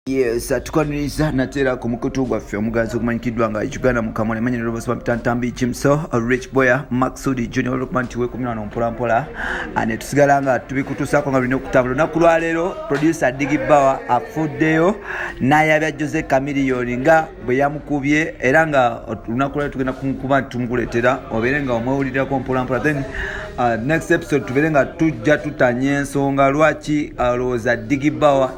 yes tukaniriza nateera ku mukutu gwaffe omugazi ogumanyikiddwa nga uganda mukamwa nemanyi nerobasoma pitantambi kimso rich boya maxudi junior olwokuba nti wekumyano mpolampola ah, netusigala nga tubikutuusako nga lulina okutambula olunaku lwaleero producer digi bawa afuddeyo nayabya jose camiliyoni nga bwe yamukubye era nga olunaku lwali tugenda kuba nti tumukuleetera obeere nga omwewulirirako mpolampola then uh, next episode tubeere nga tujja tutanya ensonga lwaki alowooza uh, digibawa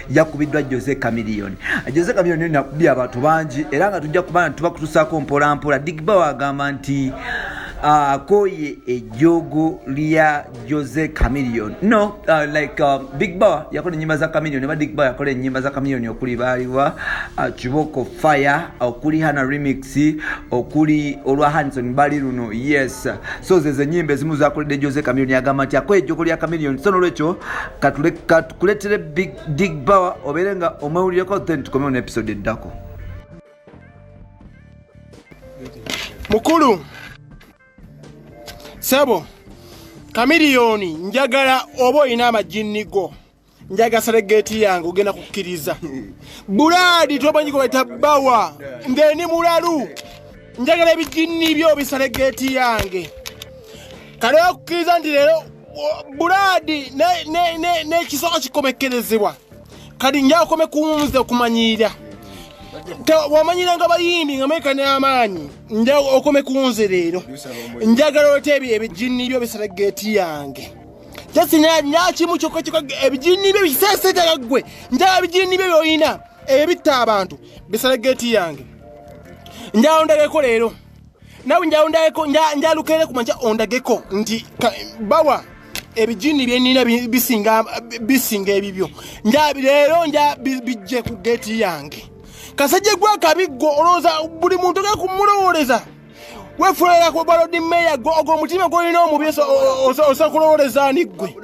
yakubiddwa jose camilion jose camilion nakubye abantu bangi era nga tujja kuba nti tubakutusaako mpolampola digibawa agamba nti uh, akoye ejjoogo lya Jose Chameleon. No, uh, like uh, Big Bar yakola enyimba za Chameleon, neba Big Bar yakola enyimba za Chameleon okuli baliwa uh, Kiboko Fire, okuli Hana Remix, okuli olwa Hanson Bali luno. Yes. So zeze nyimba ezimu zakolede Jose Chameleon yagamba nti akoye ejjoko lya Chameleon. So nolwekyo katule katukuletere Big Big Bar obeere nga omwewulireko then tukomeo on episode eddako. Mukulu sebo kamiliyoni njagala oba olina amajinni go njaga seregeti yange ogenda kukkiriza bulaadi tomanyi kubaita bawa ngeni mulalu njagala ebijinni byo biseregeti yange kale okukkiriza nti leero bulaadi n'ekisoko kikomekkerezebwa kati njakome kuwunza okumanyira wamanyira nga bayimbi nga meka n'amaanyi nja okome kuwunze leero njagala oleta ebyo ebijinni byo bisala geeti yange jasinyakimu kyokka kyoka ebijinni byo biseeseetera ggwe njagala bijinni byo byolina ebitta abantu bisala geeti yange njala ndageko leero nawe njaundayeko njalukere kumanja ondageko nti bawa ebijini byenina bisinga bisinga ebibyo nja leero nja bijje ku geti yange kasajja gwa kabiggo olowooza buli muntu ge kumulowoleza wefulela ku balodi meya gwo ogwo omutima gwolina omubi osa kulowoleza ani ggwe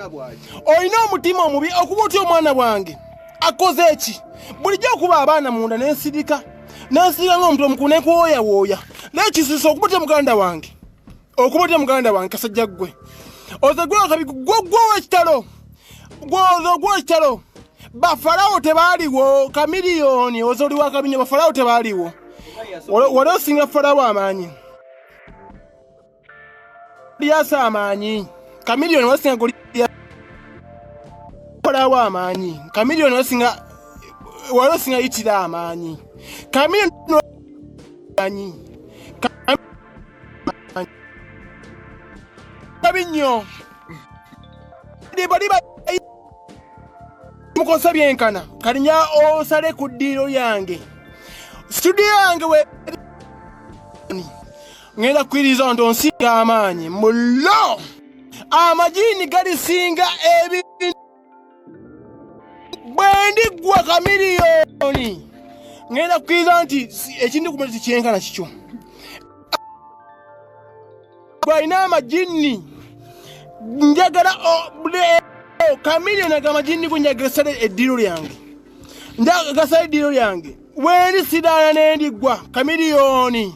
olina omutima omubi okuba otya omwana wange akoze eki bulijjo okuba abaana munda nensirika nansiiga nga omuntu omukulu nekuwooyawooya naye kisisa okuba otya muganda wange okuba otya muganda wange kasajja ggwe oze gwakabi gwogwowa ekitalo gwoze ogwowa ekitalo bafalawo tebaaliwo kamiliyoni oze oli wakabinyo bafalawo tebaaliwo wali osinga falawo amaanyi lyasa amaanyi kamiliyoni wasinga goliyakola wa amaanyi kamiliyoni wasinga wali osinga yitira amaanyi kamiliyoni amaanyi kabi nnyo bali mukosa byenkana kalinya osale ku ddiiro yange situdiyo yange we ngenda kukwiriza nti onsinga amaanyi mulo amajiini galisinga ebintu bwe ndiggwa kamiliyoni ngenda kukwiriza nti ekintu ku muleti kyenkana kikyo gwalina amajiini njagala kamiliyoni ago amajiini go njagala sale eddiiro lyange njagala sale eddiiro lyange wendi sidaala nendiggwa kamiliyoni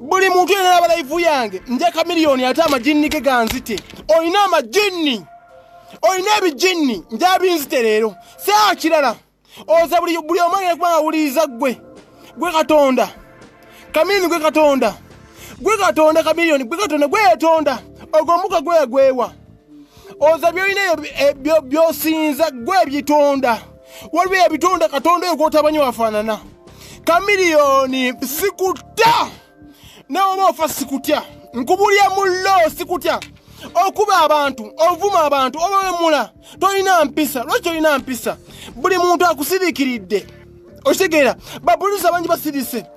buli muntu yena naba laivu yange nja kamiliyoni ate amajinni ge ganzite olina amajinni olina ebijinni nja binzite leero saa kirala oza buli omu agenda kuba ngawuliriza ggwe gwe katonda kamiliyoni gwe katonda gwe katonda kamiliyoni gwe katonda gweyetonda ogwo omuka gweyagwewa oza byolina byosinza gwe ebitonda waliwo ebitonda katonda oyo gwotabanyi wafaanana kamiliyoni sikutta nawe oba ofa sikutya nkubulya mullo sikutya okuba abantu ovuma abantu obawemula tolina mpisa lwaki tolina mpisa buli muntu akusirikiridde okitegeera bapolisi abangi basirise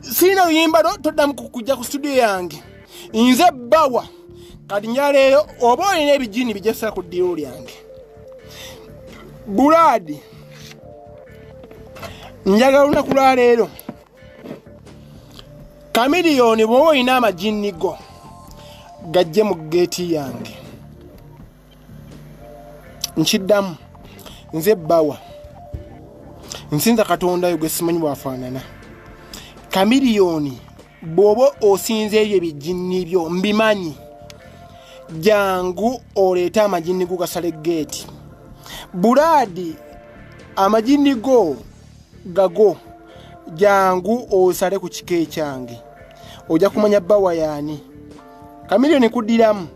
sirina luyimba lwo toddamu kujja ku studio yange nze bawa kati nyaleero oba olina ebijini bijasira ku ddiiro lyange bulaadi njagala olunaku lwa leero kamiliyoni bwoba olina amajinni go gajje mu geeti yange nkiddamu nze bawa nsinza katonda yo gwesimanyi bwafaanana kamiliyoni bwoba osinza ebyo ebijinni byo mbimanyi jangu oleete amajinni go gasale geeti bulaadi amajinni go gago jangu osale ku kika ekyange ojja kumanya bawa yaani kamiliyoni kuddiramu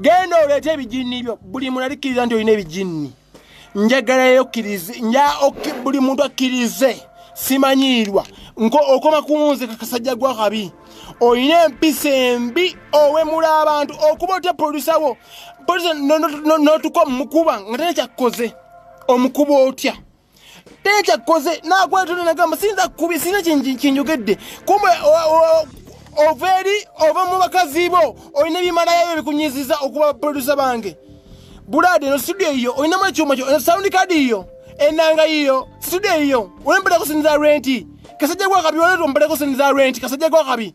genda oleete ebijinni byo buli muntu alikkiriza nti olina ebijinni njagalayo okkirize buli muntu akkirize simanyiirwa okoma kunze kakasajja gwakabi olina empisa embi owemula abantu okuba otya produsa wo notuka omukuba nga tena kyakkoze omukuba otya teri kyakkoze nakwetona nagamba siyinza kukubi sirina kinjogedde kumbe ova eri ova mu bakazi bo olina ebimalayo ebikunyiziza okuba baprodusa bange bulaade no studio yiyo olinamu ekyuma kyo sound card yiyo enanga yiyo studio yiyo olembera kusinza renti kasajja gwakabi oleta ombera kusinza renti kasajja gwakabi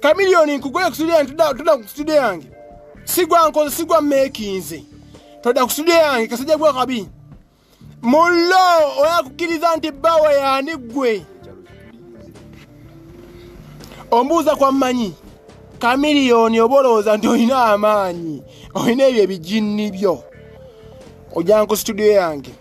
kamiliyoni nkugule ku studio yange toda ku studio yange sigwa nkoze sigwa mekinze toda ku studio yange kasajja gwa kabi mullo oyakukiriza nti bawa yani gwe ombuuza kwa mmanyi kamiliyoni oba olowooza nti olina amaanyi olina ebyo ebijinni byo ojanku studio yange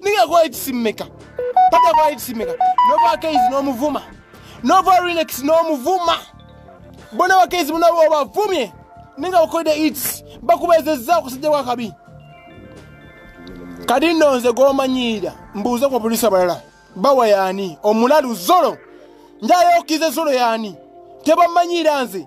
Nigga go eat simeka. Pata go eat simeka. Nova case no muvuma. Nova relax no muvuma. Bona wa case muna wa vumye. Nigga ukoide eats. Bakubeze zao kusije kwa kabi. Kadi nonze go manyira. Mbuza kwa polisi abalala. Bawa yani. Omulalu zolo. Njayo kize zolo yani. Teba manyira nze.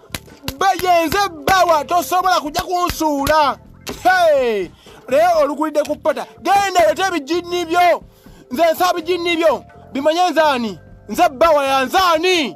bayenze bawa tosobola kujja kunsuula naye olukulidde ku pota genda leta ebijinni byo nze nsa bijinni byo bimanye nzaani nze bawa yanzaani